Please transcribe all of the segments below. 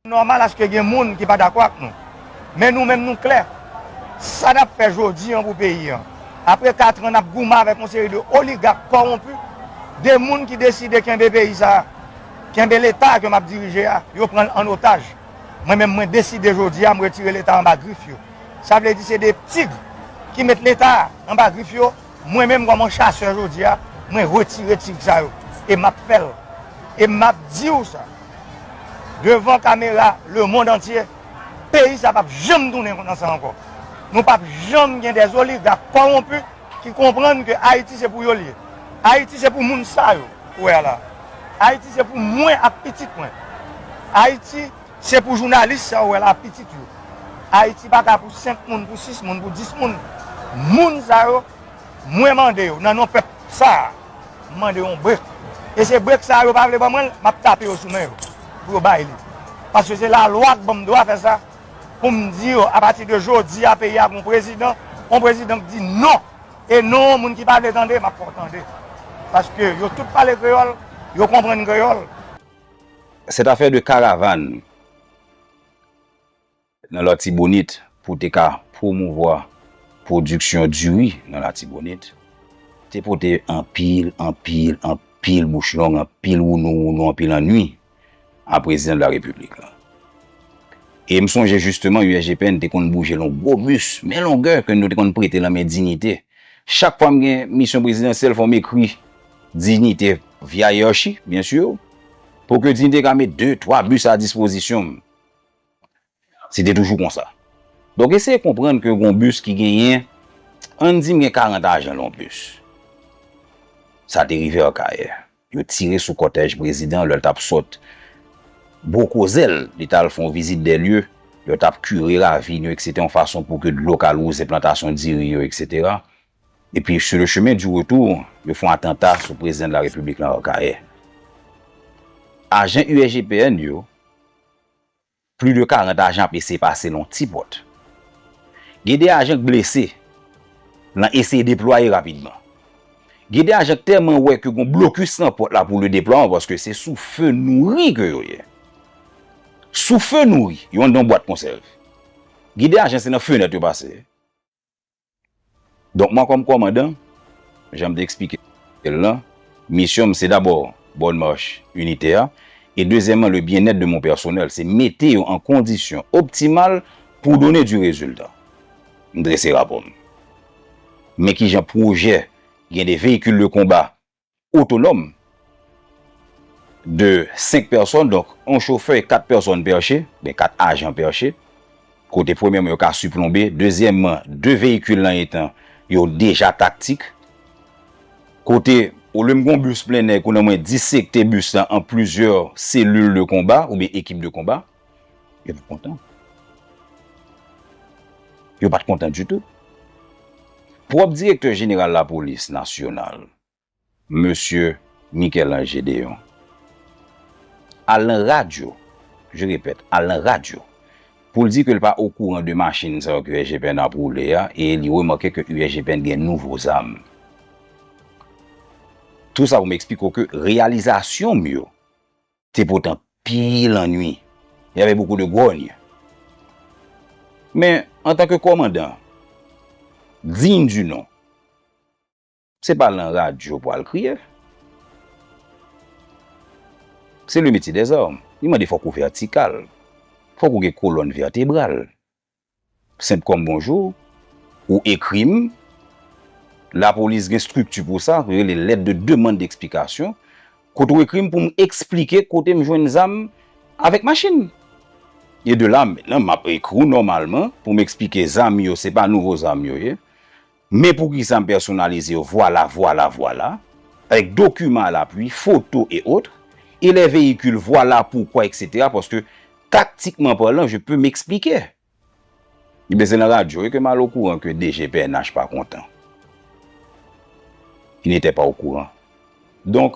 Nòmal aske gen moun ki pa dakò ak nou. Men nou menm nou klè. Sa n ap fè jodi an pou peyi an. Apre katran n ap goumen avèk yon seri de oligak kòwonpi, de moun ki deside kenbe peyi sa a, kenbe Leta ke m ap dirije a, yo pran l an otaj. Mwen menm mwen deside jodi a m retire Leta anba grif yo. Sa vle di se de tig ki met Leta anba grif yo. Mwen menm kòm yon chasè jodi a, mwen retire tig sa yo. E m ap fè l. E m ap di w sa. Devan kamera le mond antye, peyi sa pap janm tounen konn sa ankò. Nou pap janm gen des oligak kowonpi ki konprann ke Ayiti se pou yo li ye. Ayiti se pou moun sa yo ou wè a la. Ayiti se pou mwen ak pitit mwen. Ayiti se pou jounalis sa ou wè la ak pitit yo. Ayiti pa ka pou 5 moun, pou 6 moun, pou 10 moun. Moun sa yo. Mwen mande yo nan non pèp sa a, m mande yon brek. E se brek sa a yo pa vle ban mwen l, m ap tape yo sou men yo pou yo bay li. Paske se lalwa k ban m dwa fè sa pou m di yo apati de jodi a peyi a gen yon prezidan, yon prezidan k di non. E non an moun ki pa vle tande m ap fè w tande. Paske yo tout pale kreyòl, yo konprann kreyòl. Cette affaire de caravane. Nan Latibonit pou te ka pwomouvwa pwodiksyon diri nan Latibonit, te pote anpil, anpil, anpil bouch long, anpil wounou wounou, anpil annui a Prezidan de la Repiblik lan. E m sonje jisteman USGPN te konn bouje lon gwo bis, men longè ke nou te konn prete lan men Dignité. Chak fwa m gen misyon prezidansyèl fò m ekri Dignité via Hiérarchie, bien sûr, pou ke Dignité ka met de, twa bis a dispozisyon m. Se te toujou konsa. Donk eseye konprann ke gon bis ki genyen, ann di m gen 40 ajan nan yon bis. Sa te rive Akayè. Yo tire sou kòtèj prezidan an lè l t ap sot Bokozè l. Li t al fè yon vizit dè lye. Yo t ap kire ravin yo eksete yon fason pou ke dlo ka louze plantasyon diri yo eksetera. Epi sou le chemen di retou, yo fè yon atanta sou prezidan de la repiblik nan Akayè. Ajan USGPN yo. Pli de 40 ajan ap eseye pase lan ti pòt. Gen 2 ajan k blese lan eseye deplwaye rapidman. Gen 2 ajan k tèlman wè ke gon blokis lan pòt la pou le deplwaman paske se sou fe nouri ke yo ye. Sou fe nouri, yo anndan yon bwat konsèv. Gen 2 ajan se nan fenèt yo pase. Donk mwen kòm kòmandan, jan m te eksplike l lan, misyon m se dabò bonne marche inite a e dezyèmman le bien être de mon personnel, se mete yo an kondisyon optimal pou donner du résultat. M drese rapò m. Men kijan pwojè gen de véhicules de combat otonòm de 5 pèsòn, donk yon chofè e 4 pèsòn pèche, oubyen 4 ajan pèche, kote premyèman yo ka siplonbe, dezyèmman 2 veyikil nan etan yo deja taktik, kote olye m gen yon bis plennè kounye a mwen disekte bis la an plizyè selil de konba oubyen ekip de konba. Yo pat kontan. Yo pat kontan ditou. Pwòp direktè jeneral lapolis nasyonal, mesye Michel-Ange Gédéon, al nan radyo, je repèt, al nan radyo, pou l di ke l pa okouran de machin sa yo ke USGPN ap woule a e li remake ke USGPN gen nouvo zam. Tou sa pou m eksplike w ke reyalizasyon m yo, Te potan pil annui. Y avait beaucoup de grogne. Men, antan ke kòmandan digne du nom, se pa lan radyo pou al kriye. Se le metye dèzarm. Li mande fòk ou vètikal. Fòk ou gen kolòn vètebral. Senp kòm bonjou, ou ekri m, lapolis gen strikti pou sa, yo rele lèt de demann deksplikasyon, kote ou ekri m pou m eksplike kote m jwenn zam avèk machin. E de la, menm nan m ap ekri w nòmalman pou m eksplike zam yo se pa nouvo zam yo ye. Men poukisa m pèsonalize yo vwala, vwala, vwala, avèk dokiman a lapwi, foto e otre, e lè veyikil vwala, poukwa, eksetera, paske taktikman palan je pe m'expliquer. Ebyen se nan radyo wi ke m al okouran ke DG pnh pa kontan. Il n'était pas au courant. Donk.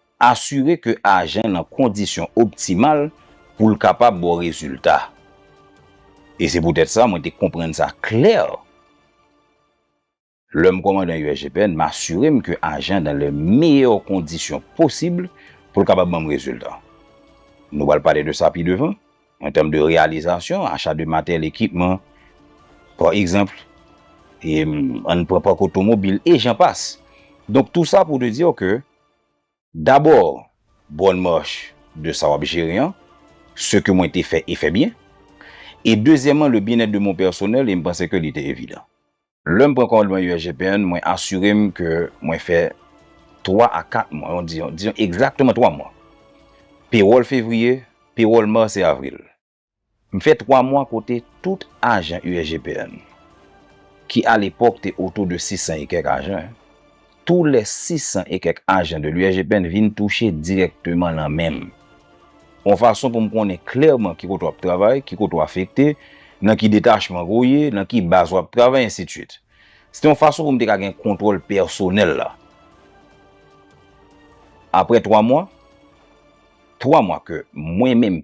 Asire ke ajan nan kondisyon optimal pou l kapab ba w rezilta. E se poutèt sa mwen te konprann sa klè lè m kòmande yon USGPN, m asire m ke ajan an nan le meyè kondisyon posib pou l kapab ban m rezilta. Nou pral pale de sa pi devan, an tèm de reyalizasyon, acha de materyèl, ekipman, pa egzanp, e an n pran pak otomobil, e jan pas. Donk tou sa pou te di w ke. Dabò, Bonne marche de sa wap jere an, ce que mwen te fè e fè byen, e dezyèman le bien-être de mon personnel e m panse ke li te evidan. Lè m pran kòmandman USGPN, mwen asire m ke mwen fè 3 a 4 mwa, dizon egzakteman 3 mwa, pewòl fevriye, pewòl mas e avril. M fè 3 mwa kote tout ajan USGPN, ki a lepòk te otou de 600 e kèk ajan, tou lè 600 e kèk ajan de l'USGPN vin touche dirèkteman lan men m. On fason pou m konnen klèman ki kote w ap travay, ki kote w afekte, nan ki detachman ke w ye, nan ki baz w ap travay, ensitiswit. Se te yon fason pou m te ka gen kontwòl pèsonèl la. Aprè 3 mwa, 3 mwa ke mwen menm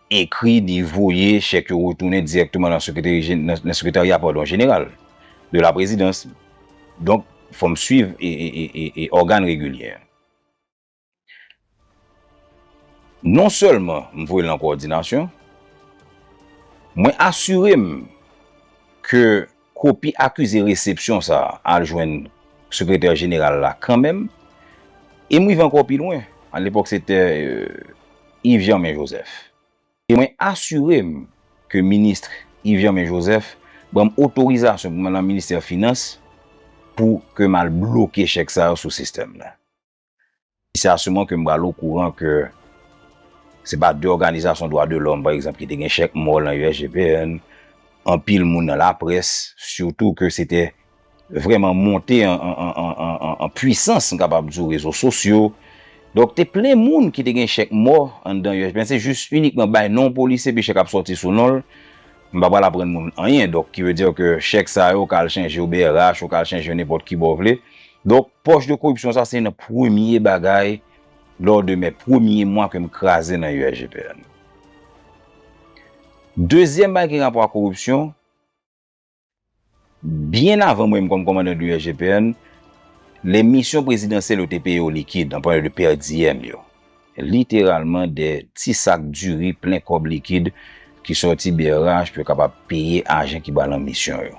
ekri li voye chèk yo retounen dirèkteman nan sekreteri nan sekretarya padon jeneral de la prezidans donk fò m swiv e ògàn regilyè an non sèlman m voye l nan kowòdinasyon mwen asire m ke. Kopi akize resepsyon sa a al jwenn Sekretè Jeneral la kanmenm. E m rive ankò pi lwen, alepòk se te Yves Germain Joseph, e mwen asire m ke Ministre Yves Germain Joseph ban m otorizasyon pou m al nan Ministè Finans pou ke m al bloke chèk sa yo sou sistèm nan. E se a ce moment ke m pral o kouran ke se pa de òganizasyon dwa de lòm, pa egzanp, ki te gen chèk mò lan USGPN, anpil moun nan laprès, sitou ke se te vrèman monte an puisans, m kapab di w, rezo sosyo. Donk, te plen moun ki te gen chèk mò anndan USGPN, se jis inikman bay non polisye epi chèk ap sòti sou non l. M pa pral aprann moun anyen donk ki ve dire ke chèk sa yo ka al chanje yo brh yo ka al chanje yo nenpòt ki bò w vle donk pòch de koripsyon sa se youn nan premye bagay lò de mè premye mwa ke m kraze nan USGPN. Dezyèm bagay ki gen rapò ak koripsyon. Byen avan mwen m kòm kòmandan de USGPN, lè misyon prezidansyèl yo te peye yo likid, an palan de pèdiyèm yo, literalman de ti sak diri plen kòb likid ki sòti brh pou yo kapab peye ajan ki ba lan misyon yo.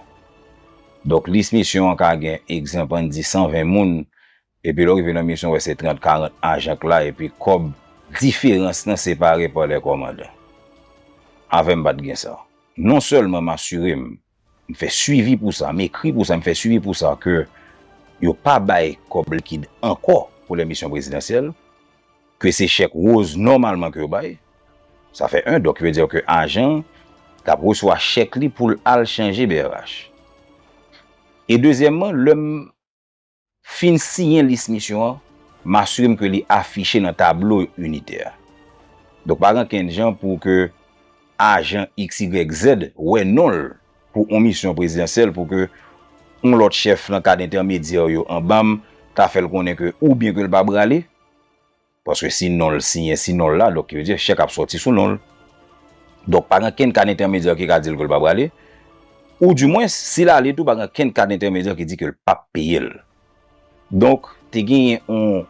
Donk lis misyon an ka gen egzanp an n di 120 moun, Epi lè w rive nan misyon w wè se 30, 40 ajan k la epi kòb diferans lan separe pa lè kòmandan. Avè m pa t gen sa. Non sèlman m asire m, m fè swivi pou sa, m ekri pou sa, m fè swivi pou sa ke yo pa bay kòb likid ankò pou lè misyon prezidansyèl, ke se chèk woz nòmalman ke yo bay. Sa fè 1, donk ki vle di ke ajan an t ap resevwa chèk li pou l al chanje brh. E dezyèmman lè m. Fin siyen lis misyon an, m asire m ke li afiche nan tablo initè a. Donk pa gen ankenn jan pou ke ajan XYZ wè non l pou on misyon prezidansyèl pou ke on lòt chèf nan kad entèmedyè yo anba m ta fè l konnen ke oubyen ke l pa brale, Paske si non l siyen si non l la, donk ki vle di chèk ap sòti sou non l. Donk pa gen kenn kad entèmedyè ki ka di l ke l pa prale. Ou di mwens, si l ale tou pa gen kenn kad entèmedyè ki di ke l pa p peye l. Donk te genyen yon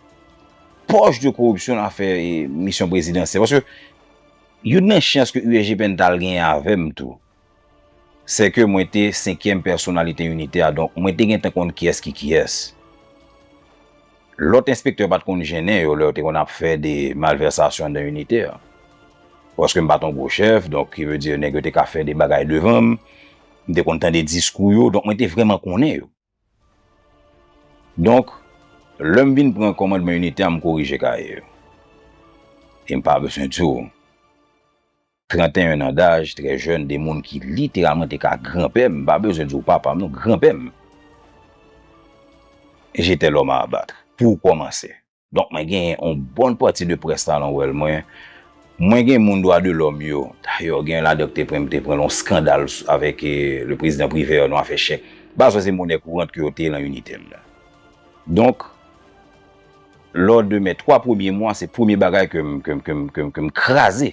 pòch de koripsyon nan afè misyon prezidansyèl. Paske youn nan chans ke USGPN ta al genyen avè m tou, Sè ke mwen te senkyèm pèsonalite inite a donk mwen te gentan konn kiyès ki kiyès. Lòt enspektè pa t konn jennen yo lè yo te konn ap fè de malvèsasyon nan inite a. Paske m pa t yon gwo chèf donk ki vle di nèg yo te ka fè de bagay devan m, m te konn tande diskou yo donk mwen te vrèman konnen yo. Donk, lè m vin pran kòmandman inite a, m korije kaye yo. E m pa bezwen di w, 31 nan daj, trè jèn, 2 moun ki literalman te ka granpè m, m pa bezwen di w papa m non, granpè m, j'étais l'homme à abattre, pou kòmanse. Donk mwen genyen yon bon pati de près la nan wèl mwen. Mwen gen moun dwa de lòm yo. Dayè gen yon ladan ki te pran m te pran yon skandal avèk le prezidan Privè nan afè chèk. Bazwen se monè kourant ke yo te lan inite m nan. Donk lò de mè 3 premye mwa se premye bagay ke m ke m ke m ke m ke m kraze.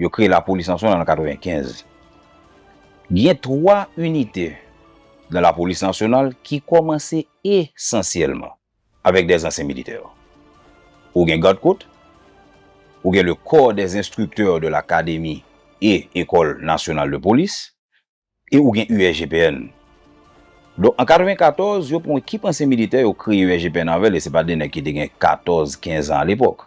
Yo kreye lapolis nasyonal an 95. Gen 3 inite nan lapolis nasyonal ki kòmanse esansyèlman avèk dè zansyen militè. Ou gen gad kot, ou gen le Corps des instructeurs de l'Académie et Ecole Nationale de Police e ou gen USGPN. Donk an 94, yo pran yon ekip ansyen militè yo kreye USGPN avè l e se pa de nèg ki te gen 14, 15 an alepòk.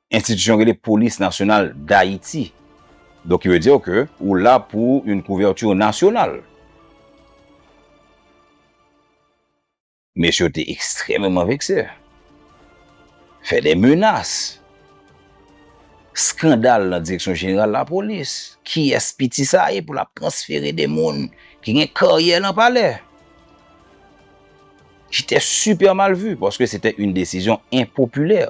Institution rele police nationale d'Haiti donc il veut dire que ou la pour une couverture nationale. Mesye yo te extrèmeman vekse. Fè de menas. Skandal nan direksyon jeneral lapolis. Kiyès piti sa ye pou l ap transfere de moun ki gen karyè nan palè? J'etait super mal vu paske sete yn desizyon enpopilè.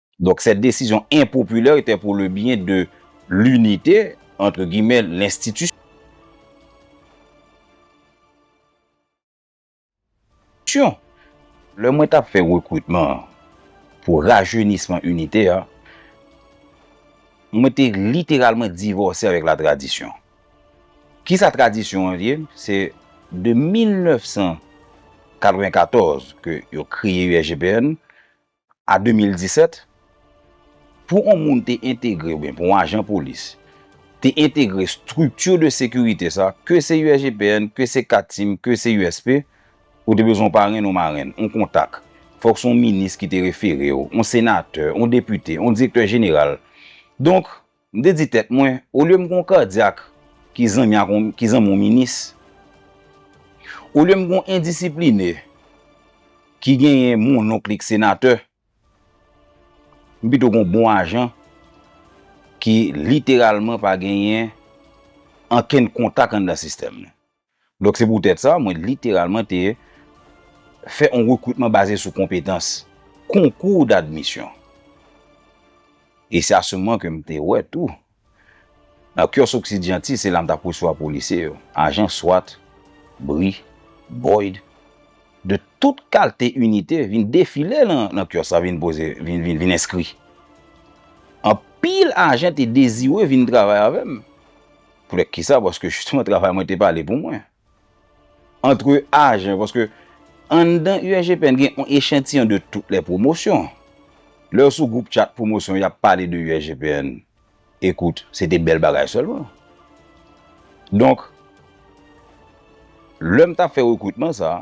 Donk sèt desizyon enpopilè etè pou le byen de linite, antre gimè, lenstitisyon. Lè mwen tap fè rekritman pou rajenisman inite a, mwen te literalman divòse avèk la tradisyon. Ki sa tradisyon an ye? Se de 1994 ke yo kreye USGPN, a 2017, pou yon moun te entegre oubyen pou yon ajan polis te entegre strikti de sekirite sa, ke se USGPN, ke se Katim, ke se USP, ou te bezwen yon parenn yon marenn, yon kontak. Fòk se yon minis ki te refere w, yon senatè, yon depite, yon direktè jeneral. Donk. M te di tèt mwen, olye m gen yon kadyak ki zanmi ak yon ki zanmi yon minis, olye m gen yon endisipline ki genyen mononk li k senatè, m pito gen yon bon ajan ki literalman pa genyen ankenn kontak anndan sistèm nan. Donk se poutèt sa, mwen literalman te fè yon rekritman baze sou konpetans, concours d'admission. E se a se moman ke m te wè tou, nan Kios Occidianti, se la m t ap resevwa polisye yo, ajan swat, bri, boyd, de tout kalte inite vin defile nan kios la vin poze, vin enskri. Anpil ajan te dezire vin travay avè m. Poutèt ki sa? Paske jisteman travay mwen te pale pou mwen. Antre ajan, paske anndan USGPN gen yon echantiyon de tout lè pwomosyon. Lè yo sou gwoup chat pwomosyon y ap pale de USGPN, ekout, se te bèl bagay sèlman. Donk, lè m t ap fè rekritman sa a.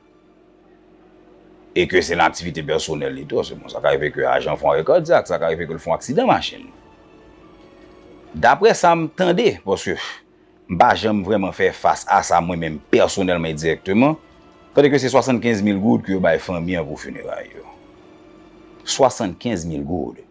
e ke se nan aktivite pèsonèl li tou, bon sa ka rive ke ajan fon arè kadyak, sa ka rive ke l fon aksidan machin. Daprè sa m tande, paske m pa janm vrèman fè fas a sa mwen menm pèsonèlman e dirèkteman, tande ke se 75 mil goud ke yo bay fanmi an pou fineray yo. 75 mil goud!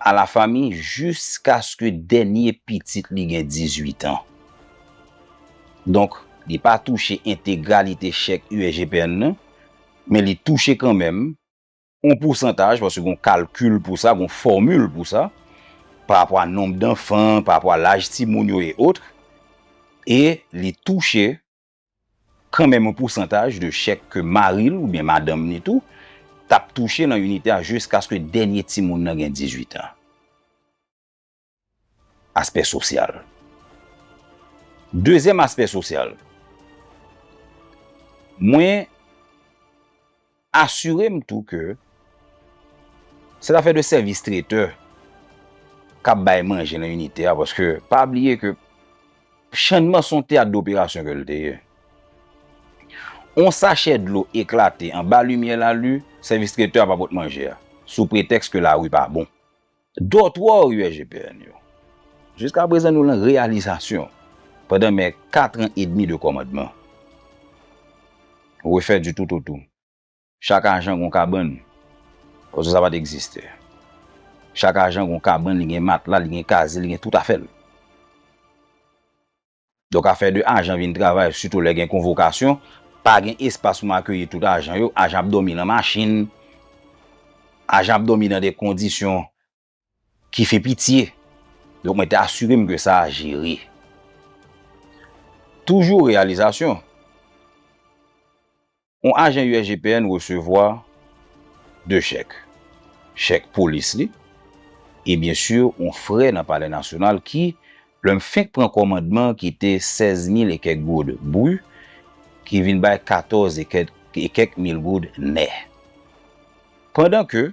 a la fami jiskaske dènye pitit li gen 18 an. Donk, li pa touche entegralite chèk USGPN nan, men li touche kanmenm yon pousantaj, paske gen yon kalkil pou sa, gen yon fòmil pou sa, parapò a nonb danfan, parapò a laj timoun yo e otre, e li touche. Kanmenm yon pousantaj de chèk ke mari l oubyen madanm ni tou t ap touche nan inite a jiskaske dènye timoun nan gen 18 an. Aspè sosyal Dezyèm aspè sosyal Mwen. Asire m tou ke se zafè de sèvis tretè k ap bay manje nan inite a paske pa bliye ke Channmas se yon teyat doperasyon ke l te ye. Yon sachè dlo eklate anba limyè lalu, sèvis tretè a pa pot manje a sou pretèks ke lari pa bon. Dòtwò USGPN yo. Jiska prezan nou lan reyalizasyon pandan mè 4 an edmi de kòmandman. Refè di tout o tou. Chak ajan gon kabann. Ozo sa pat egziste. Chak ajan gon kabann li gen matla li gen kaze li gen tout afèl. Donk afè de ajan vin travay sitou lè gen konvokasyon, pa gen espas pou m akeyi tout ajan yo, ajan ap dòmi nan machin, ajan ap dòmi nan de kondisyon ki fè pitye. Donk mwen te asire m ke sa a jere. Toujou reyalizasyon. Yon ajan usgpn resevwa 2 chèk, chèk polis li e byen sur yon frè nan palè nasyonal ki, lè m fenk pran kòmandman ki te 16 mil e kèk goud bru, ki vin bay 14 e kèk mil goud nè. Pandan ke.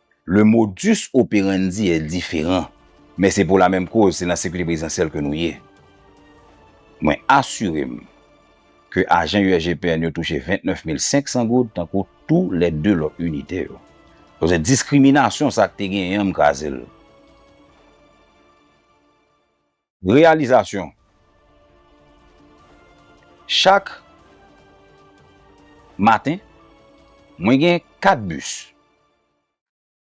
Le modus operandi est different, men se pou la menm koz, se nan sekirite prezidansyèl ke nou ye. Mwen asire m ke ajan USGPN yo touche 29 mil 500 goud tankou tou lè 2 lòt inite yo. Koze diskriminasyon sa k te genyen an m kraze l. Reyalizasyon Chak maten, mwen gen 4 bis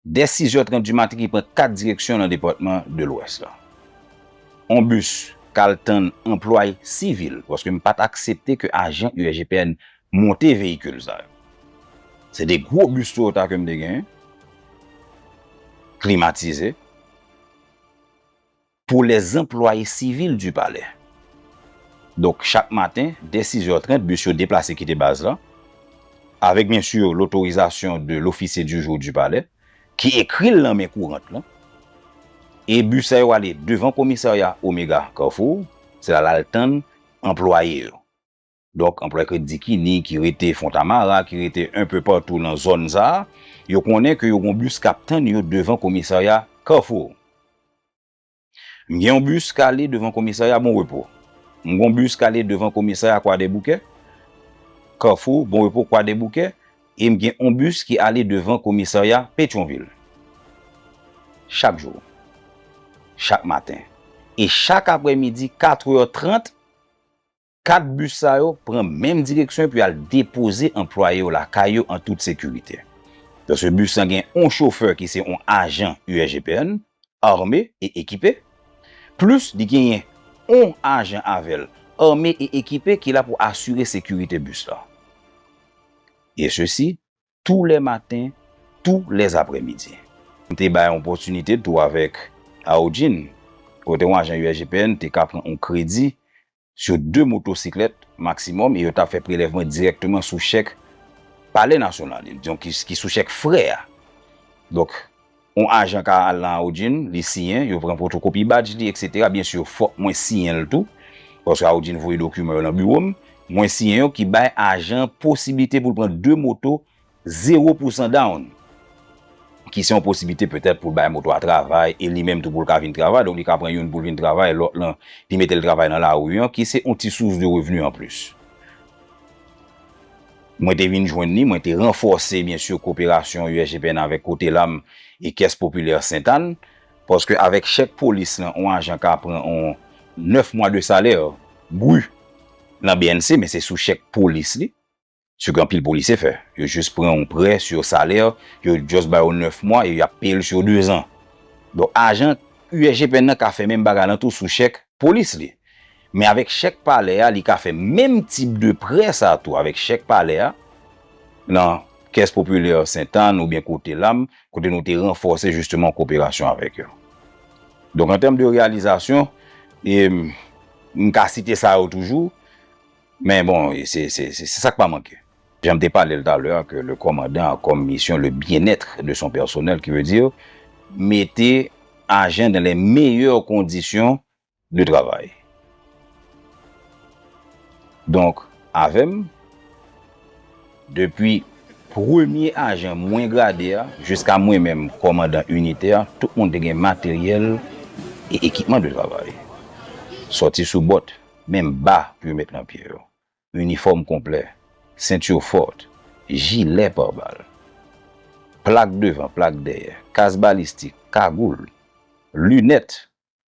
dè sizè trant di maten ki pran 4 direksyon nan depatman de Lwès la. On bis k al tann anplwaye sivil, paske m pa t aksepte ke ajan USGPN monte veyikil sa yo. Se de gwo bis Toyota ke m te genyen, klimatize. Pou lè zanplwaye sivil di palè. Donk chak maten, dè sizè trent, bis yo deplase kite baz la, avèk byen sur lotorizasyon de lofisye di jou di palè, ki ekri l nan men kourant lan. E bis sa yo ale devan komisarya Omega Carrefour, se la l al tann anplwaye yo. Donk, anplwaye kredi Dikini ki rete Fontamara, ki rete enpe patou nan zòn sa a, yo konnen ke yo gen yon bis k ap tann yo devan komisarya Kafou. M gen yon bis k ale devan komisarya Bon Repo. M gen yon bis k ale devan komisarya Kwadèboukè, Kafou, Bon Repo, Kwadèboukè, e m gen yon bis ki ale devan komisarya Petyonvil. Chak jou. Chak maten. E chak aprèmidi 4 è 30. Kat bis sa yo pran menm direksyon epi al depoze anplwaye yo lakay yo an tout sekirite. Pèsonèl bis lan gen on chofè ki se on ajan USGPN, ame e ekipe, plis li genyen on ajan avè l, ame e ekipe ki la pou asire sekirite bis lan. E sesi tou lè maten, tou lè aprèmidi. M te bay yon opòtinite tou avèk Aojin, kote yon ajan USGPN te ka pran yon kredi sou 2 motosiklèt maksimòm e yo t ap fè prelèvman dirèkteman sou chèk Palè Nasyonal, donk ki sou chèk frè a. Donk. On ajan ka al nan Audjin, li siyen, yo pran pwotokopi badj li, eksetera. Byen sur, fòk mwen siyen l tou, paske Audjin voye dokiman yo nan biwo m. Mwen siyen yo, ki bay ajan an posiblite pou l pran de moto zewo pou san down, ki se yon posiblite petèt pou l bay moto a travay e li menm tou pou l ka vin travay. Donk li ka pran youn pou l vin travay, lòt lan li mete l travay nan lari an, ki se on ti sous de revni anplis. Mwen te vin jwenn li, mwen te ranfòse byen sur koperasyon USGPN avèk Cotelam e Caisse Populaire Sainte Anne, paske avèk chèk polis lan on ajan ka pran on 9 mwa de salè brut nan bnc men se sou chèk polis li, ce ke anpil polisye fè, yo jis pran on prè sur salè, yo just ba yo 9 mwa e yap peye l sur 2 zan. Donk ajan USGPN nan ka fè menm bagay lan tou sou chèk polis li. Men avèk chèk palè a li ka fè menm tip de prè sa tou avèk chèk palè a nan Caisse Populaire Sainte Anne oubyen kote la m kote nou te ranfòse jisteman koperasyon avèk yo. Donk an tèm de reyalizasyon e m ka site sa yo toujou men bon se sa k pa manke. Jan m te pale l talè a ke le kòmandan a kòm misyon le bien-être de son personnel ki vle di mete ajan dan lè meyè kondisyon de travay. Donk, avè m, depi premye ajan mwen grade a jiska mwen menm kòmandan inite a, tout moun te gen materyèl e ekipman de travay. Sòti sou bòt, menm ba pou yo met nan pye yo, inifòm konplè, sentur fòrt, jilè par bal, plak devan, plak dèyè, kas balistik, kagoul, linèt,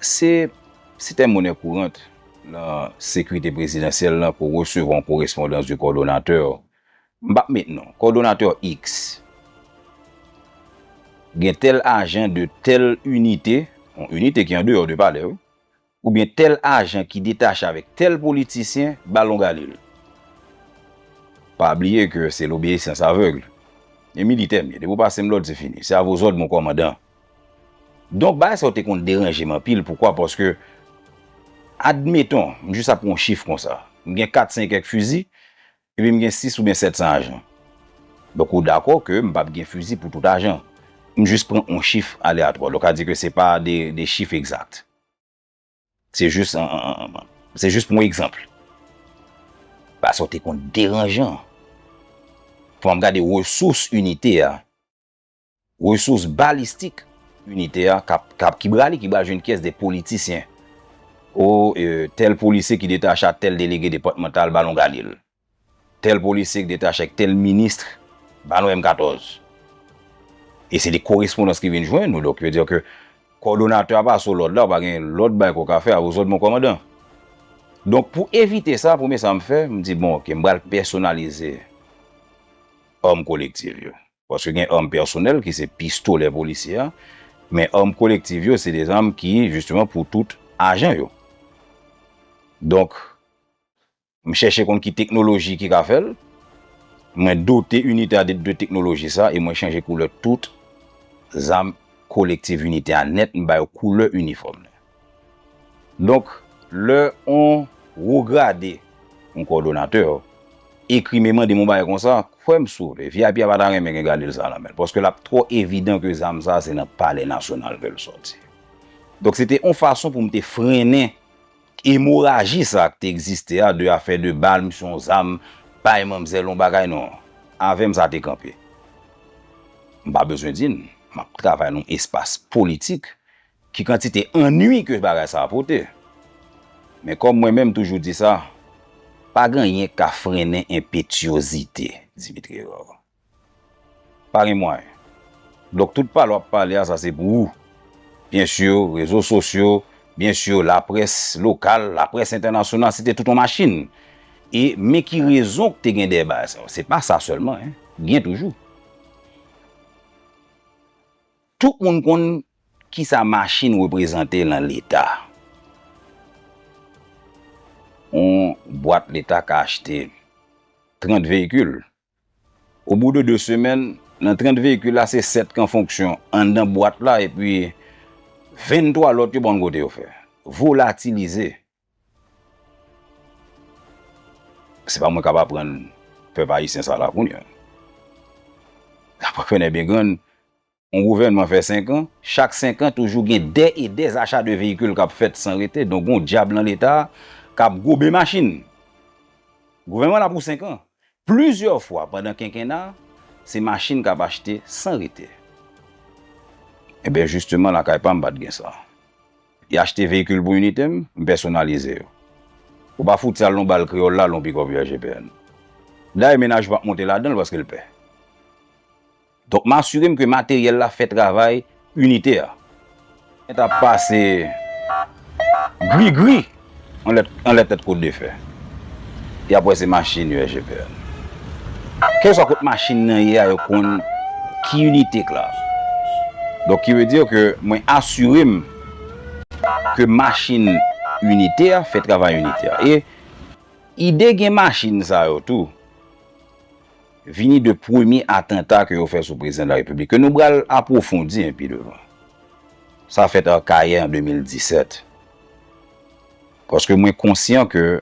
Se sitèm monè kourant lan sekirite prezidansyèl lan pou resevwa yon korespondans de kòdonatè, m pap met non, kòdonatè iks. Gen tèl ajan de tèl inite, yon inite ki andeyò de palè wi. Oubyen tèl ajan ki detache avèk tèl politisyen ba longalil. Pa bliye ke se lobeyisyans avègl. E militè m ye, depi w pase m lòd se fini. Se a vos òd mon kòmandan. Donk bagay sa yo te konn deranje m anpil, poukwa paske admeton m jis ap pran yon chif konsa, m gen kat sen e kèk fizi, Epi m gen 6 oubyen 700 ajan. Donk ou dakò ke m pap gen fizi pou tout ajan. M jis pran on chif aleatwa. Donk sa di ke se pa de chif egzat. Se jis se jis pou on egzanp. Ba sa w te konn deranjan. Fwa m gade resous inite a. Resous balistik inite a kap ki brale ki bal jwenn kyes de politisyen. O e tel polisye ki detache a tel delege depatmantal ba nou gade l. Tel polisye ki detache ak tel ministr ba nou M14. E se de korespondans ki vin jwenn nou donk yo di ke kòdonatè a pa sou lòd la ou pa gen lòt bagay ke w ka fè a vous autres mon kòmandan. Donk pou evite sa premye sa m fè m di bon ok m bal pèsonalize òm kolektiv yo. Paske gen arm pèsonèl ki se pistolè polisye a, men arm kolektiv yo se de zam ki jisteman pou tout ajan yo. Donk, m chèche konn ki teknoloji ki ka fè l, mwen dote inite a de teknoloji sa e mwen chanje koulè tout zam kolektiv inite a nèt, m ba yo koulè inifòm nan. Donk, lè on wo grade, on kòdonatè, ekri memande m on bagay konsa, kwè m sou li, vip a pa ta renmen gen gade l sa nan men l, paske l ap twò evidan ke zam sa a se nan palè nasyonal ke l sòti. Donk, se te on fason pou m te frennen emoraji sa a ki te egziste a, de afè de bal, misye on zam, bay manmzèl on bagay, non. Avè m sa te kanpe. M pa bezwen di n, m ap travay nan on espas politik, Ki kantite annui ke bagay sa a pote. Men kòm mwen menm toujou di sa, pa gen anyen ki ka frennen enpetyozite Dimitri Herard. Pa gen mwayen. Donk tout pale w ap pale a sa se pou ou. Byen sur, rezo sosyo, byen sur laprès lokal, laprès entènasyonal, se te tout yon machin. E men ki rezon ki te gen dèyè bagay sa yo. Se pa sa sèlman. Gen toujou. Tout moun konn Kisa machin reprezante lan leta? On bwat leta ka achte 30 veyikil. O bou de 2 semèn, nan 30 veyikil la se 7 kan fonksyon anndan bwat la epi 23 lòt yo pa konn kote yo fè. Volatilize. Se pa mwen kap aprann pèp ayisyen sa la kounya. Dapre Fènè Bengrann, On gouvènman fè 5 an, chak 5 an toujou gen dè e dè acha de veyikil kap fèt san rete, donk gon dyab lan leta kap gobe machin. Gouvènman la pou 5 an, plizyè fwa pandan kenkena, se machin kap achte san rete. Enben jisteman lakay pam pat gen sa. Y achte veyikil pou inite m, m pèsonalize yo. Ou pa fout sal yon bal kreyòl la lè yon pikòp UAGPN. Dayè menaj yo pap monte ladanl paske l pè. Donk m asire m ke materyèl la fè travay inite a. Mwen t ap pase grigri anlè tèt kote defè. Y ap wè se machin yo SGPN. Kèlkeswa kote machin nan ye a yo konn ki inite k la. Donk ki vle di ke mwen asire m ke machin inite a fè travay inite a. E ide gen machin sa yo tou. Vini de premye atanta ke yo fè sou prezidan de la repiblik, ke nou bral apwofondi an pi devan. Sa fèt Arcahaie an 2017. Paske mwen konsyan ke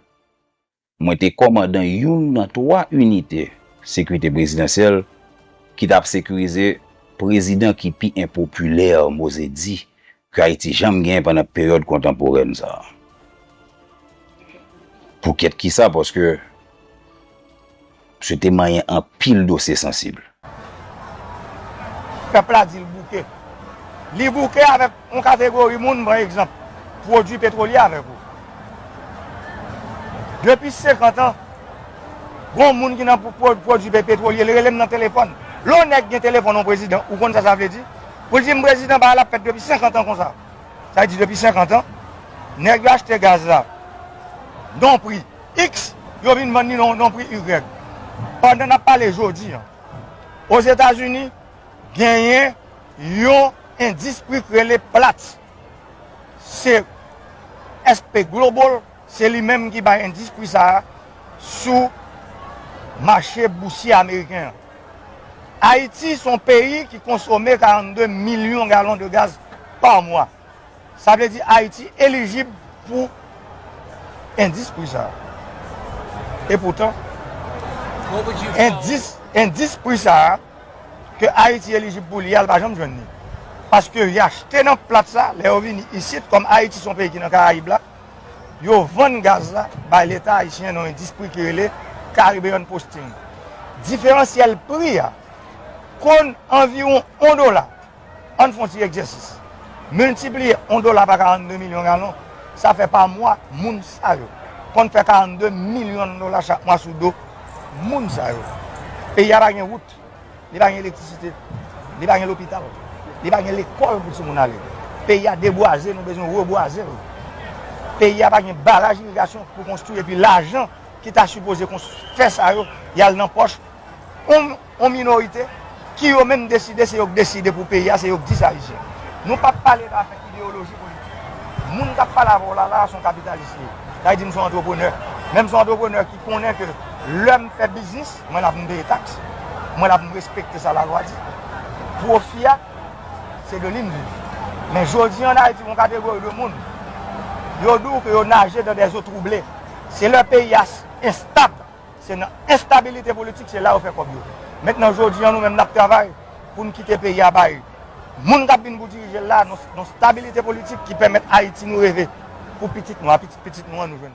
mwen te kòmandan youn nan 3 inite sekurite prezidansyèl ki tap sekurize prezidan ki pi enpopilè, m oze di, K'Ayiti janm gen pandan peryòd kontanporèn sa a. Pou kèt ki sa, paske msye te manyen anpil dosye sansib. Pèp la di l bouke. Li bouke avèk yon kategori moun, m pran egzanp, pwodui petwolye avèk ou. Depi 50 an, gon moun ki nan pwodui petwolye, li rele m nan telefòn. Lè yon nèg gen telefòn yon prezidan, ou konn sa sa vle di? Poul dim prezidan bagay la ap fèt depi 50 ans konsa. Sa vle di depi 50 ans nèg yo achte gaz la non pri X yo vin vann li non pri Y. Pandan nap pale jodi an Ozetazini genyen yon endis pri k rele Platts. Se SP Global Se li menm ki bay endis pri sa a sou mache bousye ameriken an. Ayiti se yon peyi ki konsome 42 milyon galon de gaz pa mwa. Sa vle di Ayiti elijib pou endis pri sa a. E poutan, endis pri sa a ke Ayiti elijib pou li a, l pa janm jwenn li. Paske y achte nan plat sa, lè yo vini isit, kòm Ayiti se yon peyi ki nan Karayib la, yo vann gaz la bay leta ayisyen nan endispri ki rele Caribbean Posting. Diferansyèl pri a konn anviwon on dola. Ann fon ti egzèsis. Miltipliye on dola pa 42 milyon galon, sa fè pa mwa moun sa yo konn fè 42 milyon dola chak mwa sou do moun sa yo. Peyi a pa gen wout. Li pa gen elektrisite, li pa gen lopital, li pa gen lekòl pou timoun ale. Peyi a debwaze, nou bezwen rebwaze l. Peyi a pa gen baraj irigasyon pou konstwi epi lajan ki ta sipoze fè sa yo, y al nan pòch yon minorite ki yo menm deside se yo k deside pou peyi a, se yo k di sa li se. Nou pa p pale nan afè ideyoloji politik. Moun k ap pale avè w la la a se yon kapitalis li ye. Sa vle di m se yon antreprenè. Menm se yon antreprenè ki. konnen ke lè m fè biznis, mwen la pou m peye taks, mwen la pou m respekte sa lalwa di. Pwofi a, se de li m viv. Men jodi an Ayiti gen yon kategori de moun, yo di w ke yo naje dan dè zo twouble. Se lè peyi a enstab, se nan enstabilite politik, se la yo fè kòb yo. Mentnan jodi an nou menm n ap travay pou n kite peyi a bay moun k ap vin pou dirije l la, yon stabilite politik ki pèmèt Ayiti nou reve pou pitit nou a, pitit pitit nou an nou jwenn.